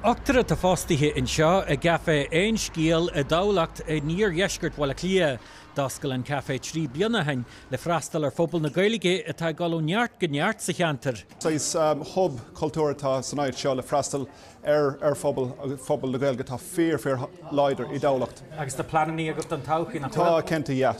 Ochtar atá fostaithe anseo i gCaifé Aon Scéal i dTamhlacht i n-iardheisceart Bhaile Átha Cliath. D'oscail an caifé trí bliana ó shin le freastal ar phobal na Gaeilge atá ag dul ó neart go neart sa cheantar. Saghas hub cultúir atá san áit seo le freastal ar phobal na Gaeilge atá fíor, fíor láidir i dTamhlacht. Agus tá pleanannaí agat don todhchaí, nach bhfuil? Tá cinnte, yeah.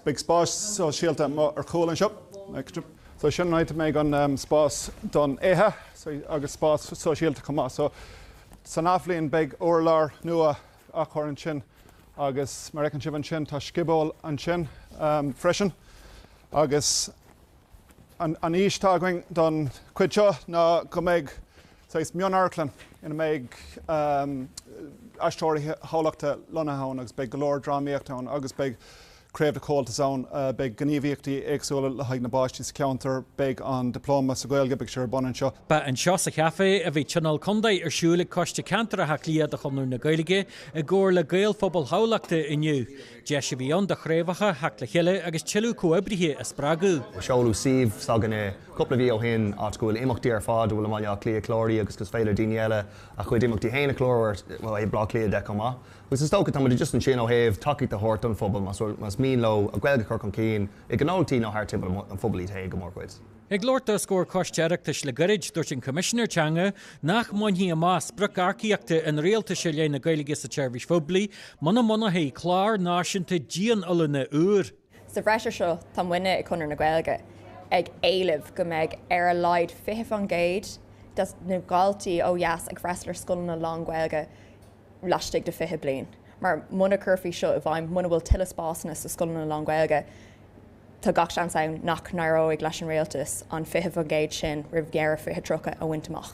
Beidh spás sóisialta amuigh ar chúl anseo. So sin an áit a mbeidh an spás don ithe agus spás sóisialta chomh maith. So san athbhliain beidh urlár nua á chur isteach ansin agus mar a fheiceann sibh ansin tá scioból ansin freisin. Agus an fhís atá againn don chuid seo ná go mbeidh saghas mionamharclann ina mbeidh aisteoirí Thamhlachta lonnaithe ann agus beidh go leor drámaíochta ann agus beidh craobh de Chomhaltas ann. Beidh gníomhaíochtaí éagsúla le haghaidh na bpáistí sa cheantar. Beidh an Diploma sa Ghaeilge, beidh sé ar bun anseo. Ba anseo sa Chafé a bhí Tionól Contae ar siúl ag Coiste Ceantair Átha Cliath de Chonradh na Gaeilge i gcomhar le Gaelphobal Thamhlachta inniu. Deis a bhí ann do chraobhacha teacht le chéile agus tuilleadh comhoibrithe a spreagadh. Seoladh suíomh s'againne cúpla mhí ó shin áit go bhfuil imeachtaí ar fad atá i mBaile Átha Cliath cláraithe agus is féidir le daoine eile a gcuid imeachtaí féin a chlárú ar shuíomh Bhaile Átha Cliath chomh maith. Agus is dócha, tá muid just ansin ó thaobh tacaíocht a thabhairt don phobal, más mian leo a gGaeilge a chur chun cinn i gnóthaí nó thart timpeall an phobail iad féin go mórchuid. Ag labhairt dó os comhair Choiste Oireachtais le gairid, dúirt an Coimisinéir Teanga nach mbainfí amach sprioc earcaíochta an Rialtais i leith na Gaeilge sa tseirbhís phoiblí muna mbunofaí clár náisiúnta dian-oiliúna úr. Sa bhreis ar seo tá muidne i gConradh na Gaeilge ag éileamh go mbeidh ar a laghad 20% de na daltaí ó dheas ag freastal ar scoileanna lán-Ghaeilge laistigh de 20 bliain mar muna gcuirfear seo i bhfeidhm, muna bhfuil tuilleadh spásanna sna scoileanna lán-Ghaeilge, tá gach seans ann nach n-éireoidh leis an Rialtas an 20% sin roimh dheireadh 2030 a bhaint amach.